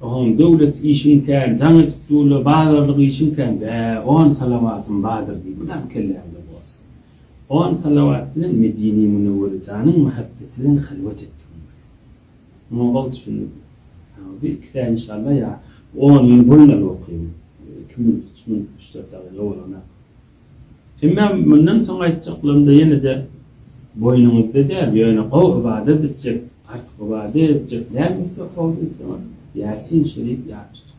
Oň döwlet işiň kän, jaň edip dur-la, bazarlyk işiň kän, bä, on salawatym bardyr diý, mydam kelläňde bolsun. On salawat bilen Medine-i Münewwere janyň mähebbeti bilen halwat etdigiň bilen. Muňa ol düşündi. Ýa, bir iki sähe inşallah, ýa, on ýyl bolýar okaýan. Iki minut, üç minut, üç-dört dagyga bolanok. Emma mundan soň aýtjaklarymda ýene-de boýnuňyzda däl, ýöne gowy ybadat etjek, artyk ybadat etjek näme isleg howluna isleňiz, Ýasin şerif ýazyşdyk.